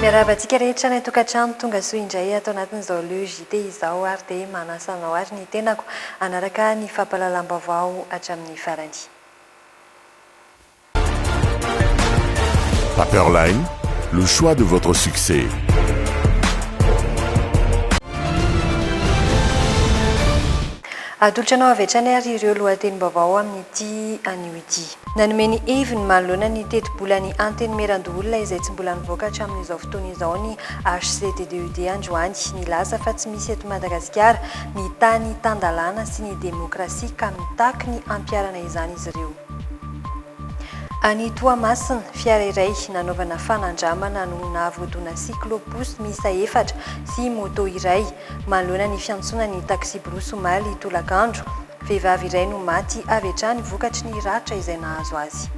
Miarahaba antsika rehetra any an-tokantrano, tonga soa indray ato anatin'izao Le JT izao ary dia manasa anao ary ny tenako hanaraka ny fampahalalam-baovao hatramin'ny farany. Paperline, le choix de votre succès. Atolotra anao avy hatrany ary ireo lohatenim-baovao amin'ity anio ity. Nanome ny heviny manoloana ny tetibolan'ny Antenimierandoholona izay tsy mbola nivoaka hatramin'izao fotoana izao ny HCDDUD androany. Nilaza fa tsy misy eto Madagasikara ny tany tan-dalàna sy ny demokrasia ka mitaky ny hampiharana izany izy ireo. Any Toamasina, fiara iray nanaovana fanandramana no nahavodona cyclo-pousse miisa efatra sy moto iray, Manoloana ny fiantsoana ny taksiborosy omaly tolakandro, vehivavy iray no maty avy hatrany vokatry ny ratra izay nahazo azy.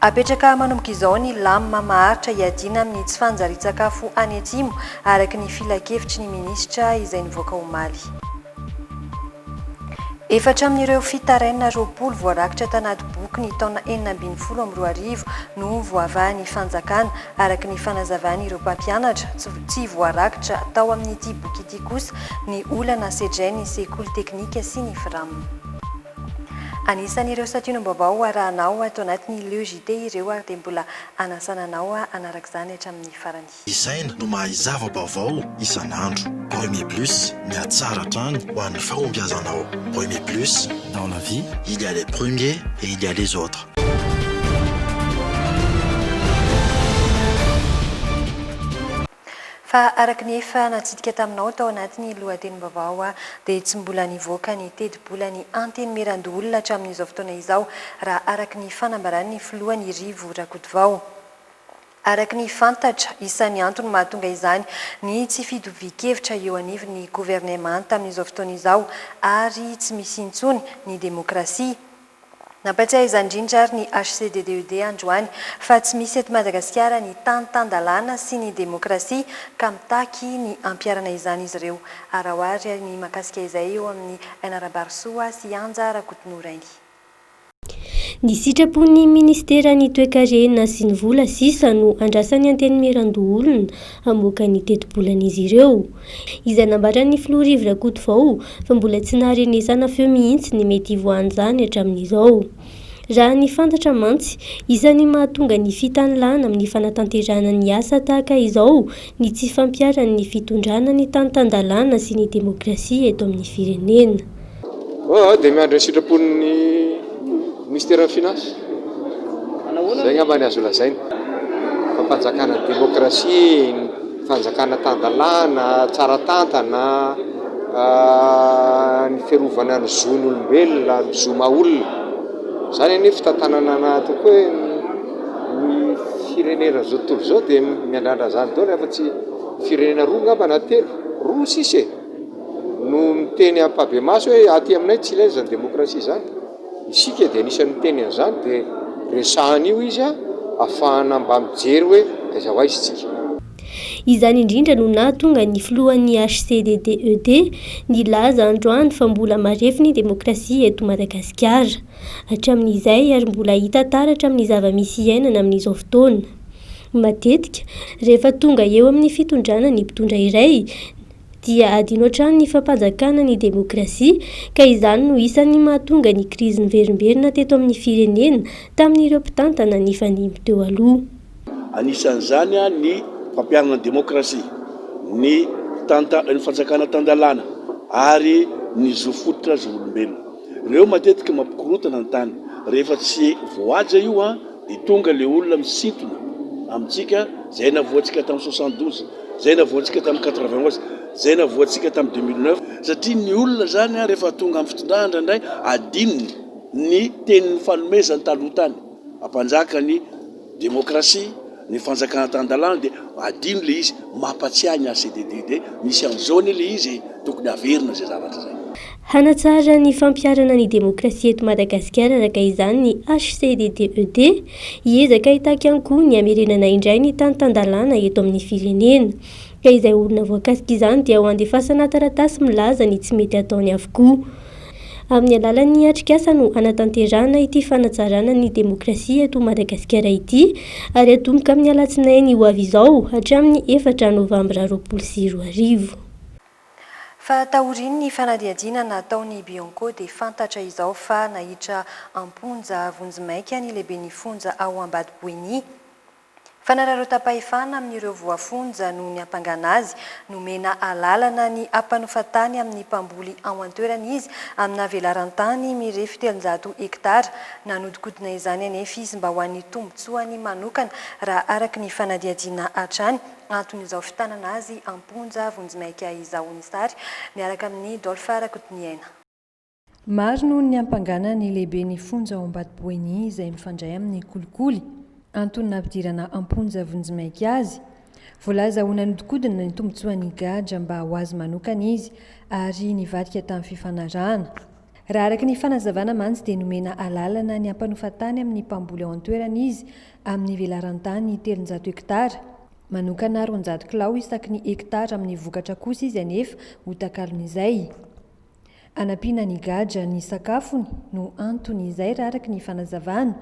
Apetraka manomboka izao ny lamina maharitra hiadiana amin'ny tsy fanjarian-tsakafo any Atsimo, araka ny filankevitry ny minisitra izay nivoaka omaly. Efatra amin'ireo fitarainana roapolo voarakitra tanaty boky ny taona enina ambin'ny folo amby roa arivo no voavahan'ny fanjakana, Araka ny fanazavan'ireo mpampianatra, tsy voarakitra tao amin'ity boky ity kosa ny olana sedrain'ny sekoly teknika sy ny Fram. Anisan'ireo santionam-baovao arahanao ato anatin'ny Le JT ireo ary dia mbola hanasana anao hanaraka izany hatramin'ny farany. Isaina no mahay zava-baovao isan'andro. Rhumie Plus, mihatsara hatrany ho an'ny fahombiazanao. Rhumie Plus. Dans la vie, il y a les premiers et il y a les autres. Fa araka ny efa natsidika taminao tao anatin'ny lohatenim-baovao dia tsy mbola nivoaka ny tetibolan'ny Antenimierandoholona hatramin'izao fotoana izao raha araka ny fanambaran'ny filohany Rivo Rakotovao. Araka ny fantatra, isan'ny antony mahatonga izany ny tsy fitovian-kevitra eo anivon'ny governemanta amin'izao fotoana izao ary tsy misy intsony ny demokrasia, Nampatsiahy izany indrindra ary ny HCDDUD androany fa tsy misy eto Madagasikara ny tany tan-dalàna sy ny demokrasia ka mitaky ny hampiharana izany izy ireo. Araho ary ny mahakasika izay eo amin'ny ain'i Rabarisoa sy Anja Rakotonorainy. Ny sitrapon'ny Ministeran'ny Toekarena sy ny vola sisa no andrasan'ny Antenimierandoholona hamoaka ny tetibolan'izy ireo. izay nambaran'ny filoha Rivo Rakotovao fa mbola tsy naharenesana feo mihitsy ny mety hivoahan'izany hatramin'izao. Raha ny fantatra mantsy, isan'ny mahatonga ny fitanilana amin'ny fanatanterahana ny asa tahaka izao ny tsy fampiharan'ny fitondrana ny tany tan-dalàna sy ny demokrasia eto amin'ny firenena. Dia miandry ny sitrapon'ny minisiteran'ny Finances. Izay angamba ny azo lazaina. Fampanjakana demokrasia, fanjakana tan-dalàna, tsara tantana, ny fiarovana ny zon'olombelona, ny zo maha-olona. Izany anie fitantanana ny antoko hoe ny firenena izao tontolo izao dia miandrandra an'izany daholo fa tsy firenena roa angamba na telo, roa sisa e! no miteny ampabemaso hoe aty aminay tsy ilaina izany demokrasia izany, isika dia anisan'ny miteny an'izany dia resahana io izy afahana mba mijery hoe aiza ho aiza isika. Izany indrindra no nahatonga ny filohan'ny HCDDED nilaza androany fa mbola marefo ny demokrasia eto Madagasikara hatramin'izay ary mbola hita taratra amin'ny zava-misy iainana amin'izao fotoana. Matetika rehefa tonga eo amin'ny fitondrana ny mpitondra iray dia adino hatrany ny fampanjakana ny demokrasia ka izany no isan'ny mahatonga ny krizy niverimberina teto amin'ny firenena tamin'ireo mpitantana nifandimby teo aloha. Anisan'izany ny fampiharana ny demokrasia, ny tanta, ny fanjakana tan-dalàna ary ny zo fototra, zo olombelona. Ireo matetika mampikorontana ny tany rehefa tsy voahaja io an! Dia tonga ilay olona misintona amintsika izay navoantsika tamin'ny soixante douze, izay navoantsika tamin'ny quatre vingt onze, izay navoantsika tamin'ny deux mille neuf, satria ny olona izany rehefa tonga amin'ny fitondrana indraindray adinony ny teny nifanomezany taloha tany hampanjaka ny demokrasia, ny fanjakana tan-dalàna dia adino ilay izy, mampatsiahy ny ACDD, dia misy an'izao anie ilay izy e! tokony haverina izay zavatra izay. Hanatsara ny fampiharana ny demokrasia eto Madagasikara araka izany ny HCDDED. Hiezaka hitaky ihany koa ny hamerenana indray ny tany tan-dalàna eto amin'ny firenena. Ka izay olona voakasik'izany dia ho andefasana taratasy milaza ny tsy mety ataony avokoa. Amin'ny alalan'ny atrikasa no hanatanterahana ity fanatsarana ny demokrasia eto Madagasikara ity ary hatomboka amin'ny alatsinainy ho avy izao hatramin'ny efatra novambra roapolo sy roa arivo. Fa taorian'ny fanadihadiana nataon'ny Bionco dia fantatra izao fa nahitra am-ponja vonjimaika ny lehiben'ny fonja ao Ambatoboini. Fanararaotam-pahefana amin'ireo voafonja no niampangana azy. Nomena alalana ny hampanofa-tany amin'ny mpamboly ao an-toerana izy amina velaran-tany mirefy telonjato hektara. Nanodinkodina izany anefa izy mba ho an'ny tombontsoany manokana raha araka ny fanadihadiana hatrany. anton'izao fitanana azy am-ponja vonjimaika izao ny sary, miaraka amin'i Dolpha Rakotoniaina. Maro no niampangana ny lehiben'ny fonja ao Ambatoboeny izay mifandray amin'ny kolikoly, antony nampidirana am-ponja vonjimaika azy. Voalaza ho nanodinkodina ny tombontsoan'ny gadra mba ho azy manokana izy ary nivadika tamin'ny fifanarahana. Raha araka ny fanazavana mantsy dia nomena alalana ny hampanofa-tany amin'ny mpamboly ao an-toerana izy amin'ny velaran-tany telonjato hekitara manokana roanjato kilao isaky ny hekitara amin'ny vokatra kosa izy anefa ho takalon'izay anampiana ny gadra ny sakafony no antony izay raha araka ny fanazavana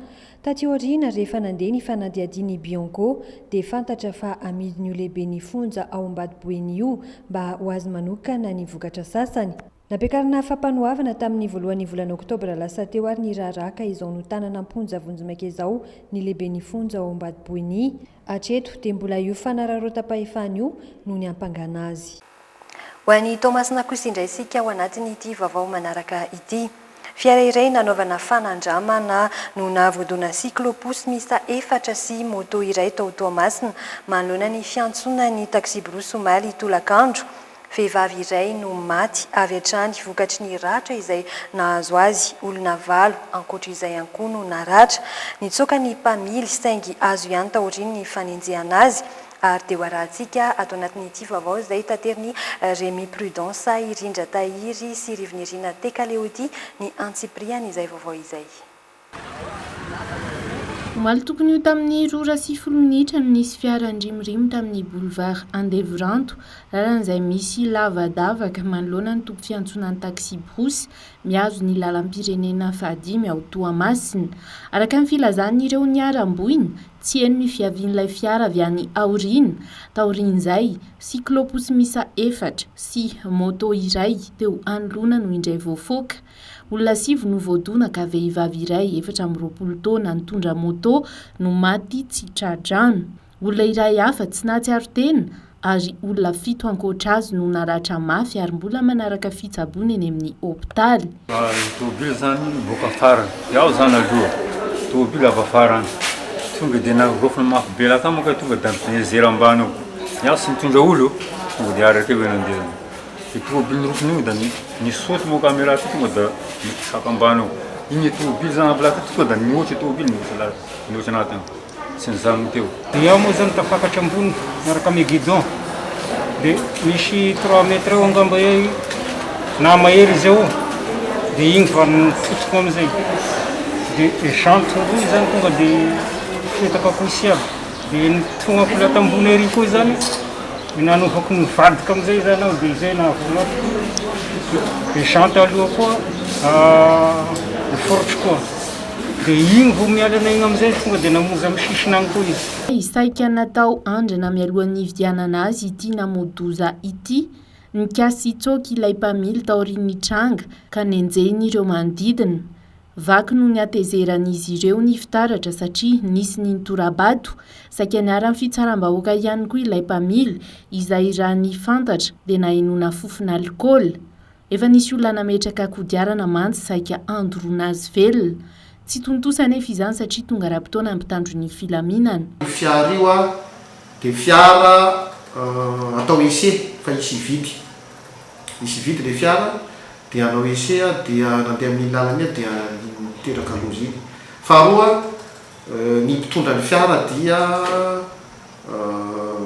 taty aoriana rehefa nandeha ny fanadihadian'ny Bianco dia fantatra fa amidin'io lehiben'ny fonja ao Ambatoboeny io mba ho azy manokana ny vokatra sasany Nampiakarina fampanoavana tamin'ny voalohan'ny volana oktobra lasa teo ary ny raharaha ka izao notanana am-ponja vonjimaika izao ny lehiben'ny fonja ao Ambatobohiny. Hatreto dia mbola io fanararaotam-pahefana io no niampangana azy. Ho an'i Toamasina kosa indray isika ao anatin'ity vaovao manaraka ity. Fiara iray nanaovana fanandramana no nahavodona cyclo-pousse miisa efatra sy moto iray tao Toamasina, manoloana ny fiantsonan'ny taxi-brousse omaly tolakandro. Vehivavy iray no maty avy hatrany vokatry ny ratra izay nahazo azy, olona valo ankoatra izay ihany koa no naratra. Nitsoaka ny mpamily saingy azo ihany taorian'ny fanenjehana azy. ary dia ho arahantsika ato anatin'ity vaovao izay taterin'i Rémy Prudence i Rindra Tahiry sy Rivinirina Tekaleody ny antsipirihan'izay vaovao izay. Omaly tokony ho tamin'ny roa ora sy folo minitra no nisy fiara nirimorimo tamin'ny boulevard Andevoranto, lalana izay misy lavadavaka manoloana ny toby fiantsonan'ny taxi-brousse mihazo ny lalam-pirenena fahadimy ao Toamasina. Araka ny filazan'ireo niharam-boina, Tsy heno ny fiavian'ilay fiara avy any aoriana, taorian'izay, cyclo-pousse miisa efatra sy moto iray teo anoloana no indray voafoaka. Olona sivy no voadona ka vehivavy iray efatra amby roapolo taona nitondra moto no maty tsy tra-drano. Olona iray hafa tsy nahatsiaro tena, ary olona fito ankoatra azy no naratra mafy ary mbola manaraka fitsaboana eny amin'ny hopitaly. Fa ny tômôbily izany nivoaka farany, izaho izany aloha, tômôbily avy afara any, tonga dia nangofony mafy be lahatany manko aho, tonga dia avy teny zera ambany ao, izaho tsy nitondra olona ô, tonga dia araka eo izy nandeha, io tômôbily niroso io dia ni saute moa caméra aty tonga dia nitsaka ambany ao, iny tômôbily izany avy lahatany tonga dia nihoatra tômôbily, nihoatra lahatany, nihoatra anatiny. tsy nijanona teo. Dia aho moa izany tafakatra ambony miaraka amin'ny guidon, dia nisy trois mètres eo angamba eo na mahery izy eo, dia iny vao nifotsiko amin'izay, dia janty roa izany tonga dia nipetaka kosa iaby, dia nitongako ilay tambony ery koa izany, dia nanaovako nivadika amin'izay izany aho, dia izay nahavoaky, dia janty aloha koa niforitry koa. Dia iny vao mialana iny amin'izay izy tonga dia namonjy amin'ny sisiny any koa izy. Saika natao andrana mialohan'ny hividianana azy ity namoa-doza ity. Nikasitsôky ilay mpamily taorian'ny tranga ka nenjehin'ireo manodidina. Vaky no nihatezeran'izy ireo ny fitaratra satria nisy ny nitora-bato. Saika niharan'ny fitsaram-bahoaka ihany koa ilay mpamily izay raha ny fantatra dia nahenoana fofon'alikaola. Efa nisy olona nametraka kodiarana mantsy saika handoroana azy velona. Tsy tontosa anefa izany satria tonga ara-potoana ny mpitandro ny filaminana. Io fiara io dia fiara atao essai fa hisy hividy. Hisy hividy ilay fiara dia hanao essai dia nandeha amin'iny lalana iny dia iny niteraka loza iny. Faharoa, ny mpitondra ny fiara dia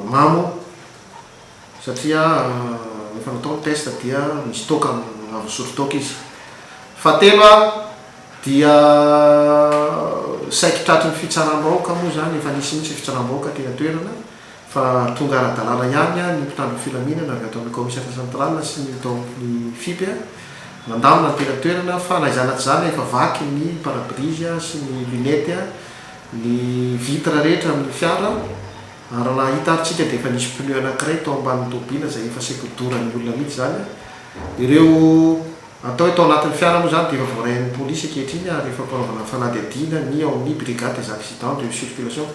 mamo. satria rehefa natao ny test dia misy toaka aminà voasotro toaka izy. Fahatelo, dia saiky tratry ny fitsaram-bahoaka moa izany, efa nisy mihitsy ny fitsaram-bahoaka aty an-toerana fa tonga ara-dalàna ihany ny mpitandro ny filaminana avy ato amin'ny kaomisaria central sy ny tao amin'ny Fip mandamina ny teny an-toerana fa na izany na tsy izany efa vaky ny pare-brise sy ny lunette, ny vitre rehetra amin'ny fiara. Ary raha hita ary tsika dia efa nisy pneu anankiray tao ambanin'ny tôbila izay efa saika doran'ny olona mihitsy izany. Ireo atao hoe tao anatin'ny fiara moa izany dia efa voarain'ny polisy ankehitriny ary efa ampanaovana fanadihadiana ny ao amin'ny brigade des accidents de circulation.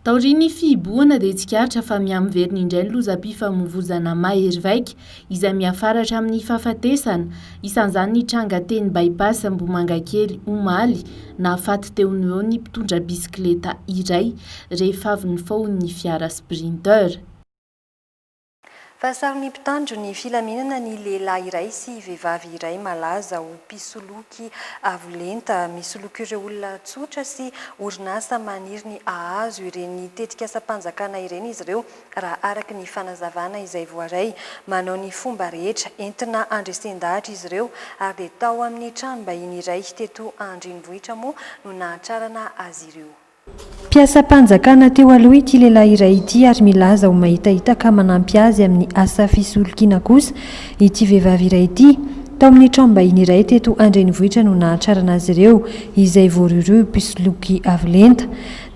Taorian'ny fihibohana dia tsikaritra fa mihamiverina indray ny lozam-pifamovoizana mahery vaika izay miafaratra amin'ny fahafatesana, isan'izany nitranga teny Bypass Ambohimangakely omaly, nahafaty teo no eo ny mpitondra bisikileta iray, rehefa avy nifaohin'ny fiara Sprinter. Fa saron'ny mpitandro ny filaminana ny lehilahy iray sy vehivavy iray malaza ho mpisoloky avo lenta, misoloky ireo olona tsotra sy orinasa maniry ny hahazo ireny tetikasam-panjakana ireny izy ireo raha araka ny fanazavana izay voaray, manao ny fomba rehetra entina handresen-dahatra izy ireo ary dia tao amin'ny tranom-bahiny iray teto Andrenivohitra moa no nahatrarana azy ireo. Mpiasam-panjakana teo aloha ity lehilahy iray ity ary milaza ho mahitahita ka manampy azy amin'ny asa fisolokiana kosa ity vehivavy iray ity. Tao amin'ny tranom-bahiny iray teto Andrenivohitra no nahatrarana azy ireo izay voarohirohy ho mpisoloky avo lenta.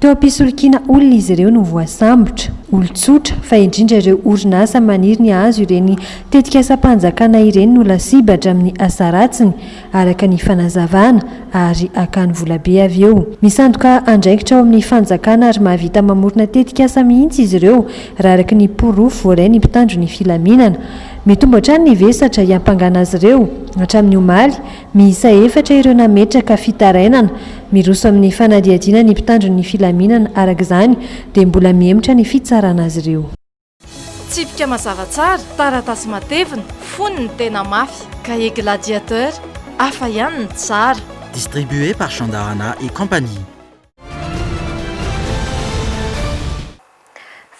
Toeram-pisolokiana olona izy ireo no voasambotra. Olon-tsotra, fa indrindra ireo orinasa maniry ny hahazo ireny tetikasam-panjakana ireny no lasibatra amin'ny asa ratsiny, araka ny fanazavana, ary hakany volabe avy eo. Misandoka andraikitra ao amin'ny fanjakana ary mahavita mamorona tetikasa mihitsy izy ireo, raha araka ny porofo voaray ny mpitandro ny filaminana. Mitombo hatrany ny vesatra hiampangana azy ireo, hatramin'ny omaly, Miisa efatra ireo nametraka fitarainana. Miroso amin'ny fanadihadiana ny mpitandro ny filaminana, araka izany dia mbola mihemotra ny fitsarana azy ireo. Tsipika mazava tsara, taratasy matevina, fonony tena mafy. Cahier Gladiateur, hafa ihany ny tsara. Distribué par Chandarana et Compagnie.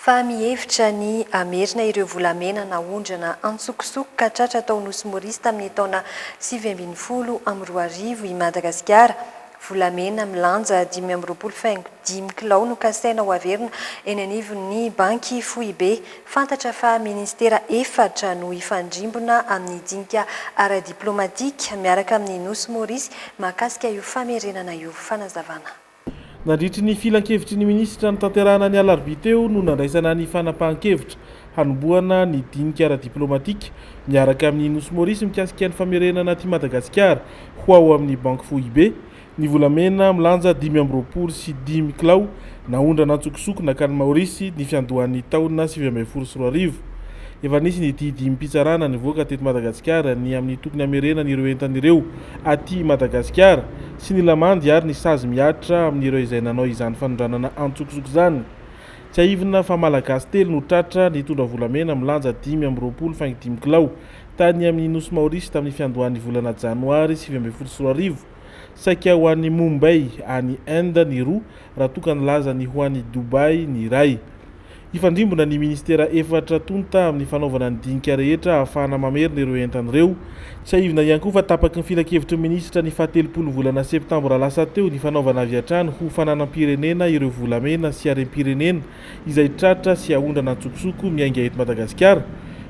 Fa mihevitra ny hamerina ireo volamena naondrana antsokosoko ka tratra tao Nosy Maurice tamin'ny taona sivy ambin'ny folo amby roa arivo i Madagasikara. Volamena milanja dimy amby roapolo faingo dimy kilao no kasaina ho averina eny anivon'ny Banky Foibe. Fantatra fa Ministera efatra no hifandrimbona amin'ny dinika ara-diplaomatika miaraka amin'ny Nosy Maurice mahakasika io famerenana io. Fanazavana. Nandritry ny Filankevitry ny Minisitra notanterahana ny alarobia teo no nandraisana ny fanapahan-kevitra hanombohana ny dinika ara-diplaomatika miaraka amin'i Nosy Maurice mikasika ny famerenana aty Madagasikara ho ao amin'ny Banky Foibe ny volamena milanja dimy amby roapolo sy dimy kilao naondrana an-tsokosoko nankany Maorisy ny fiandohan'ny taona sivy ambin'ny folo sy roa arivo. Efa nisy ny didim-pitsarana nivoaka teto Madagasikara ny amin'ny tokony hamerenana ireo entana ireo aty Madagasikara sy ny lamandy ary ny sazy mihatra amin'ireo izay nanao izany fanondranana antsokosoko izany. Tsiahivina fa Malagasy telo no tratra nitondra volamena milanja dimy amby roapolo faingo dimy kilao tany amin'ny nosy Maorisy tamin'ny fiandohan'ny volana janoary sivy ambin'ny folo sy roa arivo. Saika ho an'i Mumbai, any Inde, ny roa, raha toa ka nilaza ny ho any Dubai ny iray. Hifandrimbona ny minisitera efatra tonta amin'ny fanaovana ny dinika rehetra ahafahana mamerina ireo entana ireo. Tsiahivina ihany koa fa tapaky ny filankevitry ny minisitra ny fahatelopolo ny volana septambra lasa teo ny fanaovana avy hatrany ho fananam-pirenena ireo volamena sy harem-pirenena izay tratra sy aondrana an-tsokosoko miainga eto Madagasikara.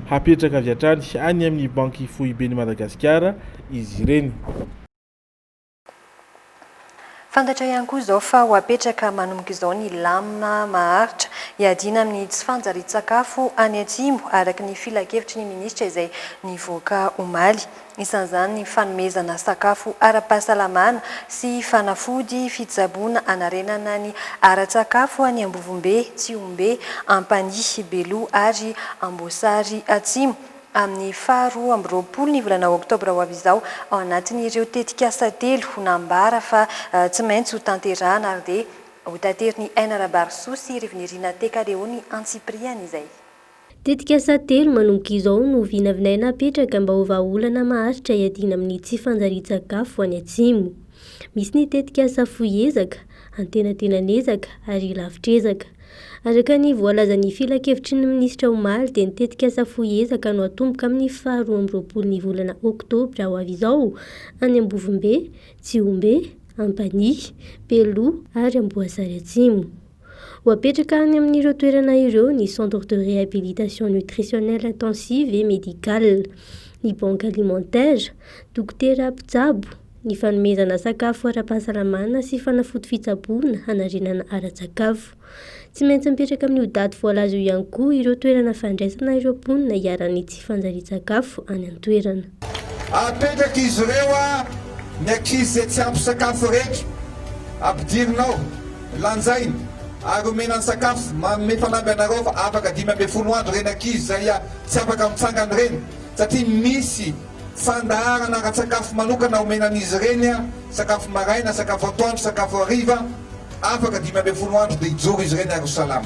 Hapetraka avy hatrany any amin'ny Banky Foiben'i Madagasikara izy ireny. Fantatra ihany koa izao fa ho apetraka manomboka izao ny lamina maharitra hiadiana amin'ny tsy fanjarian-tsakafo any Atsimo, araka ny filankevitry ny minisitra izay nivoaka omaly. Isan'izany ny fanomezana sakafo ara-pahasalamana sy fanafody fitsaboana hanarenana ny ara-tsakafo any Ambovombe, Tsihombe, Ampanihy, Beloha ary Amboasary Atsimo. amin'ny faha roa amby roapolo ny volana oktobra ho avy izao, ao anatin'ireo tetikasa telo ho nambara fa tsy maintsy ho tanterahana ary dia hotaterin'i Aina Rabarisoa sy Rivinirina Tekaleo ny antsipirihany izay. Tetikasa telo manomboka izao no vinavinaina hapetraka mba ho vahaolana maharitra hiadiana amin'ny tsy fanjarian-tsakafo any Atsimo. Misy ny tetikasa Fohy ezaka, Antenatenan'ezaka ary Lavitr'ezaka. Araka ny voalazan'ny filankevitry ny minisitra omaly dia ny tetikasa Fohy ezaka no hatomboka amin'ny faha roa amby roapolo ny volana oktobra ho avy izao any Ambovombe, Tsihombe, Ampanihy, Beloha ary Amboasary Atsimo. Ho apetraka any amin'ireo toerana ireo ny Centre de Réhabilitation Nutritionnelle Intensive et Médicale, ny Banque Alimentaire, Dokotera mpitsabo, ny fanomezana sakafo ara-pahasalamana sy fanafody fitsaboana hanarenana ara-tsakafo. Tsy maintsy mipetraka amin'io daty voalaza io ihany koa ireo toerana fandraisana ireo mponina iharan'ny tsy fanjarian-tsakafo any an-toerana. Apetraka izy ireo a! Ny ankizy izay tsy ampy sakafo reto, ampidirina ao, lanjaina, ary omena ny sakafo, manome fanamby anareo fa afaka dimy ambin'ny folo andro ireny ankizy izay tsy afaka mitsangana ireny satria misy Fandaharana ara-tsakafo manokana omena an'izy ireny, sakafo maraina, sakafo atoandro, sakafo hariva. Afaka dimy ambin'ny folo andro dia hijoro izy ireny ary ho salama.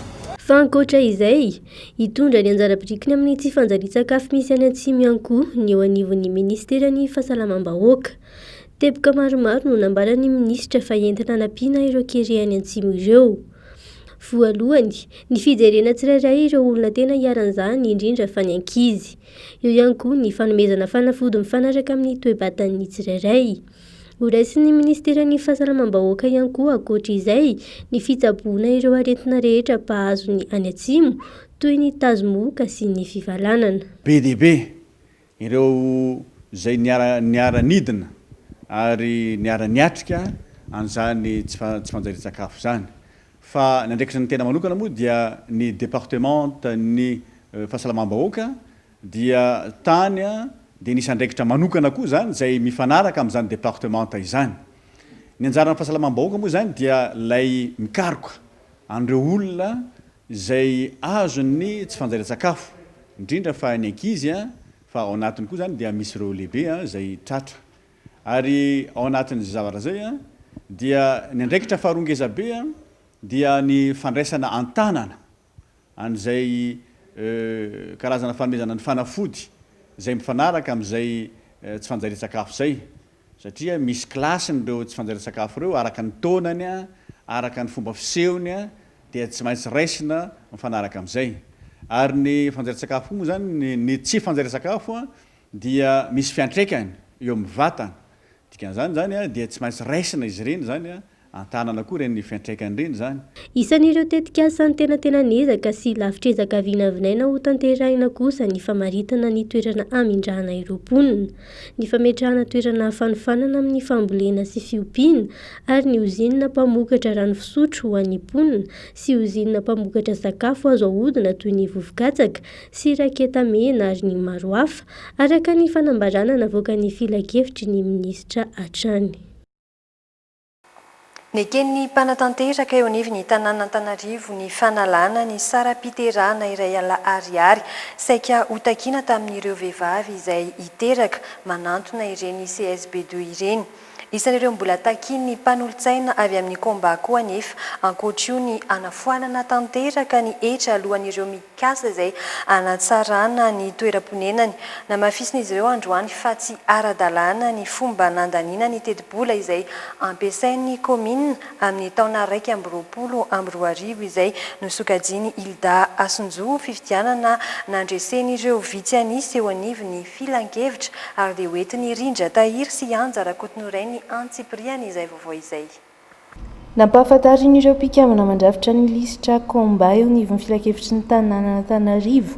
Fa ankoatra izay, hitondra ny anjara birikiny amin'ny tsy fanjarian-tsakafo misy any Atsimo ihany koa ny eo anivon'ny Minisiteran'ny Fahasalamam-bahoaka. Teboka maromaro no nambaran'ny Minisitra fa entina hanampiana ireo kere any Atsimo ireo. Voalohany, ny fijerena tsirairay ireo olona tena iharan'izany, indrindra fa ny ankizy. Eo ihany koa ny fanomezana fanafody mifanaraka amin'ny toe-batan'ny tsirairay. Horaisin'ny minisiteran'ny Fahasalamam-bahoaka ihany koa ankoatra izay ny fitsaboana ireo aretina rehetra mpahazo ny any Atsimo toy ny tazomoka sy ny fivalanana. Be dia be ireo izay niara-nidina ary niara-niatrika an'izany tsy fanjarian-tsakafo izany. Fa ny andraikitry ny tena manokana moa dia ny departemanta ny fahasalamam-bahoaka dia tany dia nisy andraikitra manokana koa izany izay mifanaraka amin'izany departemanta izany. Ny anjaran'ny fahasalamam-bahoaka moa izany dia ilay mikaroka an'ireo olona izay azon'ny tsy fanjarian-tsakafo indrindra fa ny ankizy fa ao anatiny koa izany dia misy ireo lehibe izay tratra Ary ao anatin'izay zavatra izay dia ny andraikitra faharoa ngeza be dia ny fandraisana an-tanana an'izay karazana fanomezana ny fanafody izay mifanaraka amin'izay tsy fanjarian-tsakafo izay satria misy kilasiny ireo tsy fanjarian-tsakafo ireo araka ny taonany, araka ny fomba fisehony dia tsy maintsy raisina mifanaraka amin'izay. Ary ny fanjarian-tsakafo koa moa izany, ny tsy fanjarian-tsakafo, dia misy fiantraikany eo amin'ny vatana, dikan'izany izany dia tsy maintsy raisina izy ireny izany, an-tanana koa ireny fiantraikany ireny izany. Isan'ireo tetikasa antenantenan'ny ezaka sy lavitr'ezaka vinavinaina ho tanterahina kosa ny famaritana ny toerana hamindrana ireo mponina, ny fametrahana toerana fanofanana amin'ny fambolena sy fiompiana ary ny ozinina mpamokatra rano fisotro ho an'ny mponina sy ozinina mpamokatra sakafo azo ahodina toy ny vovo-katsaka sy raketa mena ary ny maro hafa, araka ny fanambarana navoakan'ny filankevitry ny minisitra hatrany. Neken'ny mpanatanteraka eo anivon'ny tanàn'Antananarivo ny fanalana ny saram-piterahana iray ala ariary saika hotakiana tamin'ireo vehivavy izay hiteraka manantona ireny CSB deux ireny. Isan'ireo mbola takian'ny mpanolotsaina avy amin'ny Combat koa anefa, ankoatra io, ny hanafoanana tanteraka ny hetra alohan'ireo mikasa izay hanatsarana ny toeram-ponenany. Namafisin'izy ireo androany fa tsy ara-dalàna ny fomba nandaniana ny tetibola izay ampiasain'ny kaominina amin'ny taona iraika amby roapolo amby roa arivo izay nosokajian'i Hilda Hasinjo ho fifidianana nandresen'ireo vitsy an'isa eo anivon'ny Filankevitra ary dia hoentin'i Rindra Tahiry sy Anja Rakotonorainy antsipiriany izay vaovao izay. Nampahafantarin'ireo mpikambana mandrafitra ny lisitra Combat eo anivon'ny Filankevitry ny tanànan'Antananarivo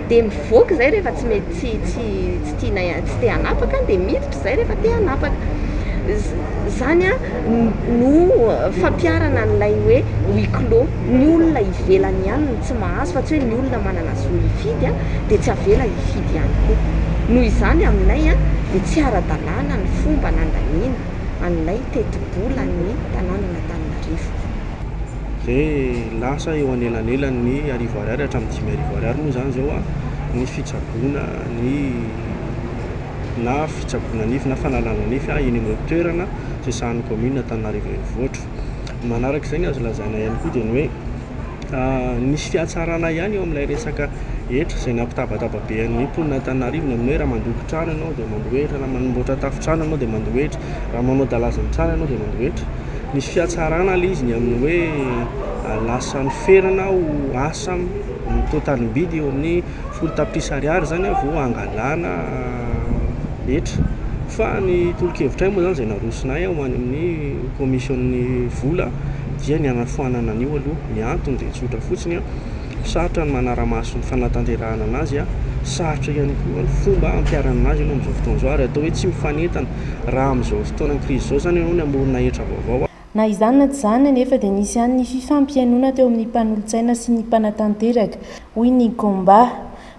Dia mivoaka izay rehefa tsy mety tsy tsy tsy tiana ihany tsy te hanapaka dia miditra izay rehefa te hanapaka. Izany an no fampiharana an'ilay hoe huis clos. Ny olona ivelany ihany no tsy mahazo fa tsy hoe ny olona manana zo hifidy an dia tsy avela hifidy ihany koa. Noho izany aminay an dia tsy ara-dalàna ny fomba nandaniana an'ilay tetibolan'ny tanànan'Antananarivo. dia lasa eo anelanelan' ny arivo Ariary hatramin'ny dimy arivo Ariary moa izany izao ny fitsaboana ny na fitsaboana nify na fanalana nify eny amin'ireo toerana izay sahanin'ny kaominina Antananarivo Renivohitra. Ny manaraka izay ny azo lazaina ihany koa dia ny hoe nisy fihatsarana ihany eo amin'ilay resaka hetra izay nampitabataba be ny mponina Antananarivo ny amin'ny hoe raha mandoko trano ianao dia mandoa hetra, raha manamboatra tafon-trano ianao dia mandoa hetra, raha manao dalazan-trano ianao dia mandoa hetra. Misy fihatsarana ilay izy ny amin'ny hoe lasan'ny ferana ho asa mitoa tanim-bidy eo amin'ny folo tapitrisa ariary izany vao hangalana hetra. Fa ny tolo-kevitray moa izany izay narosonay ho any amin'ny kaomision'ny vola dia ny hanafoanana an'io aloha. Ny antony dia tsotra fotsiny, sarotra ny manara-maso ny fanatanterahana an'azy, sarotra ihany koa ny fomba hampiharana an'azy aloha amin'izao fotoana izao ary atao hoe tsy mifanentana. raha amin'izao fotoana krizy izao izany ianao ny hamorona hetra vaovao. Na izany na tsy izany anefa dia nisy ihany ny fifampihainoana teo amin'ny mpanolotsaina sy ny mpanatanteraka, hoy ny Comba.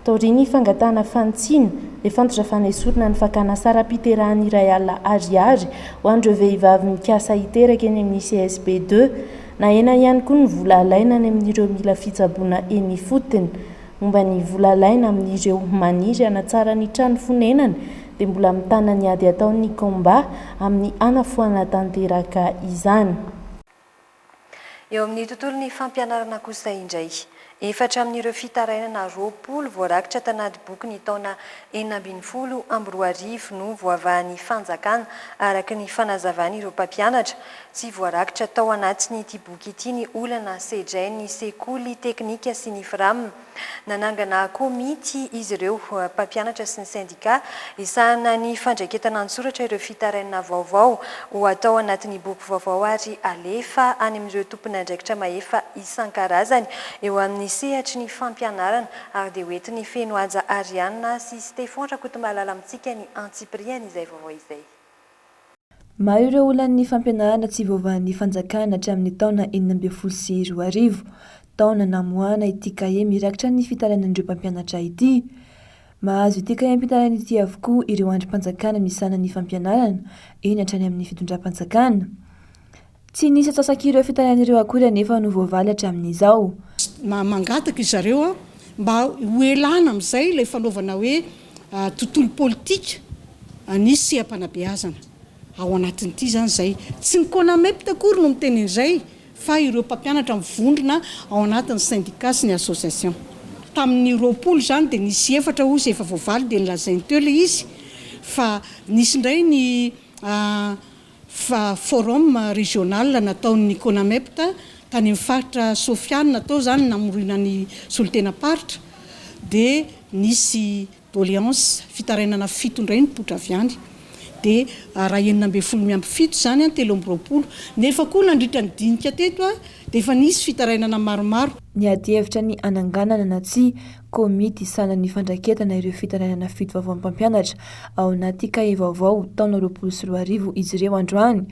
Taorian'ny fangatahana fanintsiana, dia fantatra fa nesorina ny fakana saram-piterahana iray alina Ariary ho an'ireo vehivavy mikasa hiteraka eny amin'ny CSB deux. Nahena ihany koa ny vola alaina any amin'ireo mila fitsaboana eny ifotony. Momba ny vola alaina amin'ireo maniry hanatsara ny trano fonenany, dia mbola mitana ny ady ataon'ny Combat amin'ny hanafoanana tanteraka izany. Eo amin'ny tontolon'ny fampianarana kosa indray, efatra amin'ireo fitarainana roapolo voarakitra tanaty boky ny taona enina ambin'ny folo amby roa arivo no voavahan'ny fanjakana araka ny fanazavan'ireo mpampianatra. Tsy voarakitra tao anatin'ity boky ity ny olana sedrain'ny sekoly teknika sy ny Fram. Nanangana komity izy ireo, mpampianatra sy ny sendika, hisahana ny fandraketana an-tsoratra ireo fitarainana vaovao ho atao anatin'ny boky vaovao ary halefa any amin'ireo tompon'andraikitra mahefa isan-karazany eo amin'ny sehatry ny fampianarana ary dia hoentin'i Fenohaja Ariana sy Stefan Rakotomalala amintsika ny antsipirihany izay vaovao izay. Maro ireo olan'ny fampianarana tsy voavahan'ny fanjakana hatramin'ny taona enina ambin'ny folo sy roa arivo, taona namoahana ity kahie mirakitra ny fitarainan'ireo mpampianatra ity. Mahazo ity kahiem-pitaraina ity avokoa ireo andrim-panjakana misahana ny fampianarana, eny hatrany amin'ny fitondram-panjakana. Tsy nisy atsasak'ireo fitaniana ireo akory anefa no voavaly hatramin'izao. Mangataka izy zareo mba ho elana amin'izay ilay fanaovana hoe tontolo politika ny seha-panabeazana ao anatin'ity izany izay. Tsy ny Conamepte akory no miteny an'izay fa ireo mpampianatra mivondrona ao anatin'ny syndicat sy ny association. Tamin'ny roapolo izany dia nisy efatra hoy izay efa voavaly dia nolazainy teo ilay izy fa nisy indray ny. fa forum régional nataon'ny Conamept tany amin'ny faritra Sofiane tao izany namoriana ny solontenam-paritra dia nisy doléance fitarainana fito indray nipoitra avy any dia araha enina ambin'ny folo miampy fito izany telo amby roapolo nefa koa nandritra ny dinika teto dia efa nisy fitarainana maromaro Ny adihevitra ny hananganana na tsia Komity hisahana ny fandraketana ireo fitarainana fito vaovaon'ny mpampianatra ao anaty kahie vaovao taona roapolo sy roa arivo izy ireo androany.